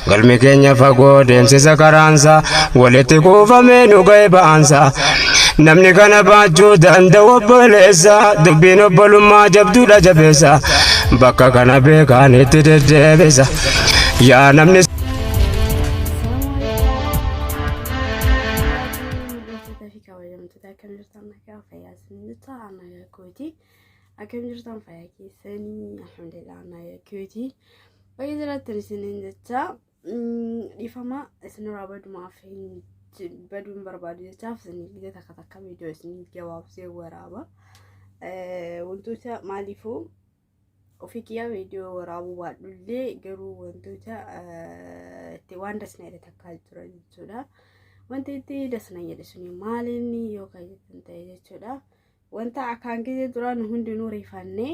galmi keenya fagoo deemsisa karaansa walitti kuufamee nu ga'e ba'aansa namni kana baachuu danda'u obboleessa dubbiin obbolummaa jabduudha jabeessa bakka kana beekaan itti deddeebisa yaa namni Hordoftoota fi kabajamtoota akkam jirtan nagaa fayyaa isinitti haa nagaa kootii. Akkam jirtan fayyaa keessanii alhamdulillah na yakkiyooti. Baay'ee jiraattan isiniin jecha dhiifama isinirraa badumaaf hin baduu hin barbaadu jechaaf isinii gidee takka takka viidiyoo isinii gabaabsee waraaba. Wantoota maaliifuu ofii kiyyaa viidiyoo waraabuu baadhullee garuu wantoota itti waan dasnaa jedhe takkaa jira jechuudha. Wanti itti dasnaa jedhe suni maalinni yoo kan jettan ta'e jechuudha. Wanta akkaan gisee duraa nu hundinuu rifannee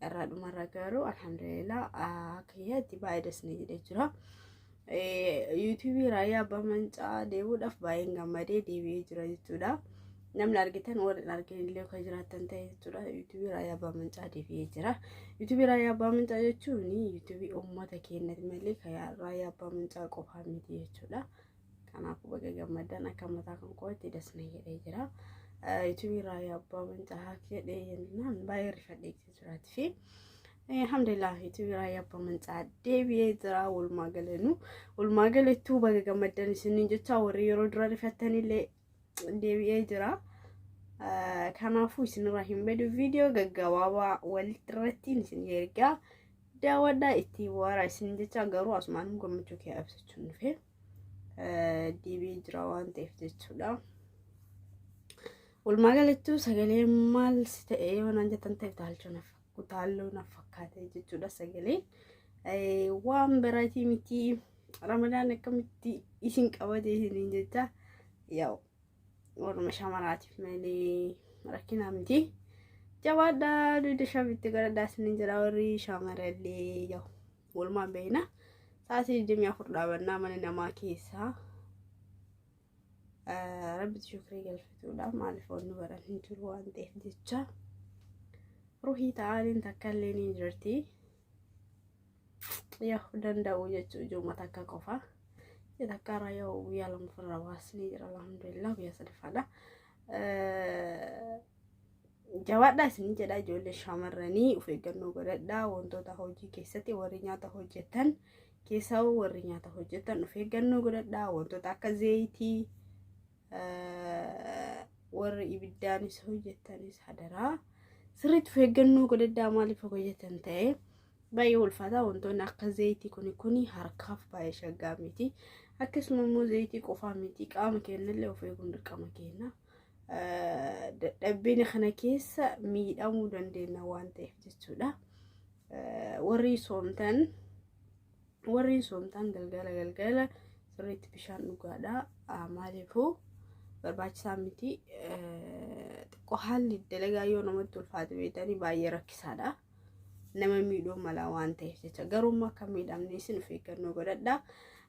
irraa dhumarra garuu alhamdulillah akka kiyyaatti baay'ee das na jedhee jira. Yuutuubii raayyaa abbaa mancaa deebi'uudhaaf baay'een gammadee deebi'ee jira jechuudha. Namni argitan warri hin argin illee kan jiraatan ta'e jechuudha. Yuutuubii raayyaa abbaa mancaa deebi'ee jira. Yuutuubii raayyaa abbaa mancaa jechuun yuutuubii uummata keenyati malee kan raayyaa abbaa mancaa qofaa miti jechuudha. Kanaafuu baga gammaddan akka mataa kan kootti das na jedhee jira. Yuutuubii irraa yaa abbaa mancahaa jedhee jennaan baay'ee rifadhee itti jiraati fi alhamdulillah yuutuubii irraa yaa abbaa mancaa deebi'ee jira walumaa galanuu walumaa galattuu baga gammaddan isiniin jecha warri yeroo dura rifattanillee deebi'ee jira. Kanaafuu isinirraa hin badu viidiyoo gaggabaabaa walitti irrattiin isin ergaa daawwadhaa itti waaraa isin jecha garuu asumaan gammachuu kee ibsachuun dhufee. diibii jira waan ta'eef jechuudha. Walumaa galattuu sagalee maal si ta'e yoo naan jettan ta'e utaalchoo naaf utaalloo naaf fakkaate jechuudha sagalee. Waan biraatii miti ramadaan akkamitti isin qabate isiniin jecha yaa'u warra shamaraatiif malee rakkinaa miti. Jabaadhaa duyda shabitti gara daasni jira warri shamarallee yaa'u. Walumaan beekna. Sa'aatii 24 dhaabannaa mana namaa keessaa rabbitti shukrii galfatuudha. Maaliif wanni baran hin jiru waan ta'eef jecha. Ruhii ta'aniin takka illee ni jirti. Yaa'u danda'u jechuun ijooma takka qofa. Isa takka irraa yaa'u guyyaa lama ofirraa baasnee jira alhamdulillah guyyaa sadaffaadha. jabaadhaa isin jedha ijoollee shamarranii of eeggannoo godhadhaa wantoota hojii keessatti warri nyaata hojjetan keessaa warri nyaata hojjetan of eeggannoo godhadhaa wantoota akka zeeyitii warri ibiddaanis hojjetanis hadaraa sirriitti of eeggannoo godhadhaa maaliif hojjetan ta'ee baay'ee ulfaataa wantoonni akka zeeyitii kuni kuni harkaaf baay'ee shaggaa miti akkasuma immoo zeeyitii qofaa miti qaama keenyallee of eeguun dirqama keenya. dadhabbiin kana keessa miidhamuu dandeenya waan ta'eef jechuudha. Warri soomtan warri soomtan galgala galgala sirriitti bishaan dhugaadha. Maaliifuu barbaachisaa miti. Xiqqoo haalli dalagaa yoo namatti ulfaate beekanii baay'ee rakkisaadha. nama miidhuu mala waan ta'eef jecha garuu immoo akka miidhamne isin of eeggannoo godhadhaa.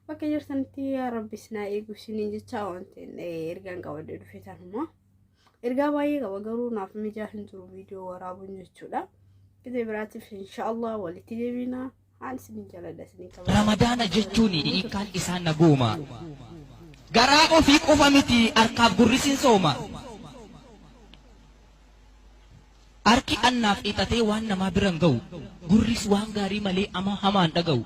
Bakka jirtanitti yaa rabbi isin haa eegu isiniin jecha wanti ergaan qabadde dhufe tanuma. Ergaa baay'ee qaba garuu naaf mijaa hin jiru viidiyoo waraabuun jechuudha. Gidee biraatiif inshaallah walitti deebina. Aan isinin jaladha isinin qaba. Ramadaana jechuun hiikaan isaa naguuma. Garaa ofii qofa miti harkaaf gurrisiin sooma. Harki annaaf ixatee waan namaa biran ga'u. Gurris waan gaarii malee ama hamaan dhaga'u.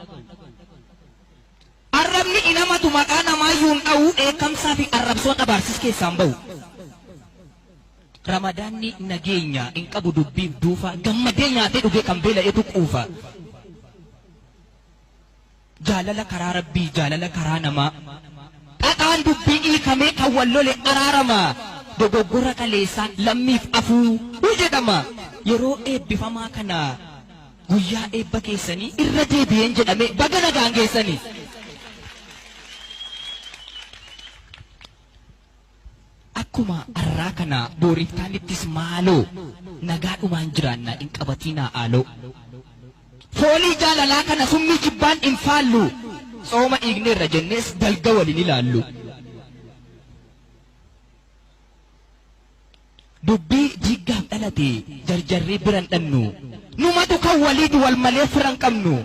Arrabni hin hamatu maqaa namaayyuu hin dha'u dheekkamsaa fi arrabsoon abaarsis keessaa hin ba'u. Ramadaanni nageenya hin qabu dubbiif duufa gammadee nyaatee dhugee kan beela'etu quufa. Jaalala karaa rabbii jaalala karaa namaa xaxaan dubbii hiikamee kan wal lole araarama dogoggora kaleessaa lammiif afuu jedhama yeroo eebbifamaa kana Guyyaa eebba keessanii irra deebi'een jedhame baga nagaan geessanii. Akkuma arraa kana booriftaanittis maaloo nagaadhumaan jiraannaa hin qabatiinaa aaloo. Foolii jaalalaa kana summii jibbaan hin faallu. Tsooma dhiigneerra jennees dalga waliin ilaallu. Dubbii diiggaaf dhalate jarjarree bira hin dhannu. Numatu kan waliiti wal malee fira hin qabnu.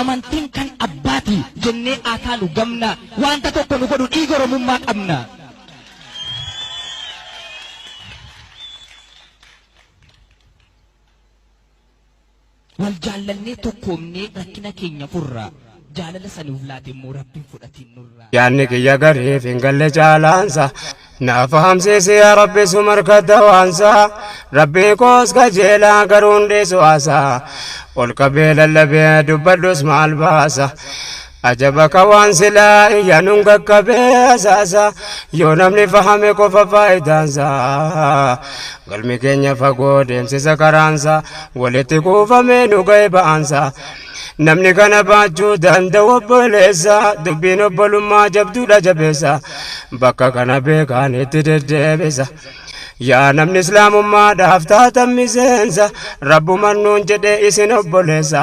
Amantiin kan abbaati jennee haa taanu gamna. Waanta tokko nu godhu dhiiga Oromummaa qabna. Wal jaallannee tokkoomnee rakkina keenya furra. Jaalala isa nuuf laate immoo Rabbiin fudhatiin nurraa. Yaanni kiyya gariif hin galle caalaansa. Na fahamsiisi yaa Rabbi su markatta waansa. Rabbii koos kajeelaa garuu hin dhiisu asa. Ol qabee lallabee dubbadhus maal baasa. Ajaba ka waan silaa iyyanuun qaqqabee asaasa yoo namni fahame qofa faayidaansa galmi keenya fagoo deemsisa karaansa walitti kuufamee nu ga'e ba'aansa namni kana baachuu danda'u obboleessa dubbiin obbolummaa jabduudha jabeessa bakka kana beekaan itti deddeebisa yaa namni islaamummaadhaaf taatan miseensa rabbuman nuun jedhe isin obboleessa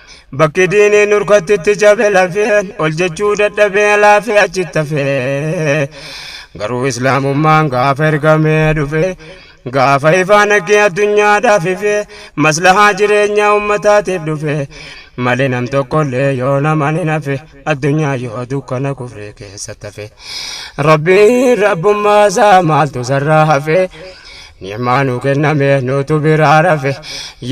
Bakki diinii nurkatti itti cabe lafeen ol jechuu dadhabee laafee achitti hafee garuu islaamummaan gaafa ergamee dhufe gaafa ifaa naggee addunyaadhaaf ife maslahaa jireenyaa ummataatiif dhufe malee nam tokkollee yoo naman hin hafe. addunyaa yoo dukkana kufree keessa tafe rabbiin rabbummaa isaa maaltu sarraa hafe ni'maa nu kenname nutu biraa rafe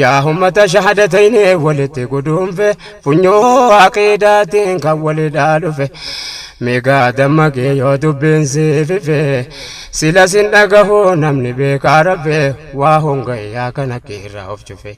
yaa ummata shahadatayne walitti guduunfe funyoo aqiidaatiin kan walidhaa dhufe migaa dammaqee yoo dubbiin siifife sila sin dhagahu namni beekaa rafe waa hongayyaa kana kiirraa of cufe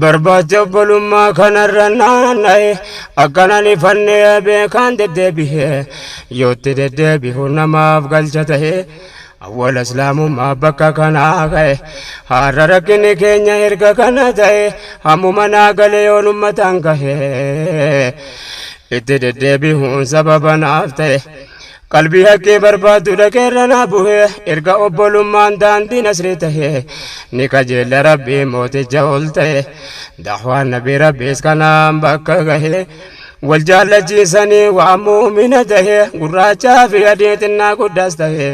Barbaacha obbolummaa kanarra naanna'e akkanan ifannee beekaan deddeebi'e yootti deddeebi'u namaaf galcha ta'e awwala islaamummaa bakka kanaa ka'e har'a rakkinni keenya erga kana ta'e hammuma naa galee yoon ummataan ka'e itti deddeebi'uun sababa naaf ta'e. Qalbii haqqii barbaaddu dhaqee irra naa buhe erga obbolummaan daandii nasrii tahe ni qajeella rabbii mooticha ol ta'e dahwaan nabii rabbiis kanaan bakka gahe wal jaallachiisanii waan muumina tahe gurraachaa fi adii xinnaa guddaas tahe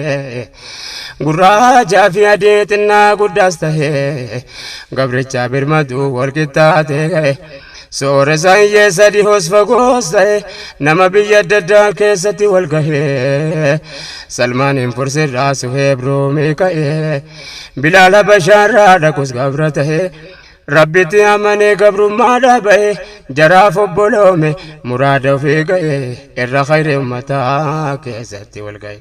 gurraachaa fi adii xinnaa guddaas tahe gabrichaa birmaduu wal qixxaatee gahe. Sooresaan yeessa dhihoos fagoos ta'e nama biyya adda addaa keessatti wal gahee Salmaaniin Fursirraa Suheeb Ruumii ka'ee Bilaal Habashaarraa dhaqus gabra ta'e Rabbitti amanee gabrummaadhaa ba'e jaraaf obboloome muraada ofii ga'e irra khayri ummataa keessatti wal ga'e.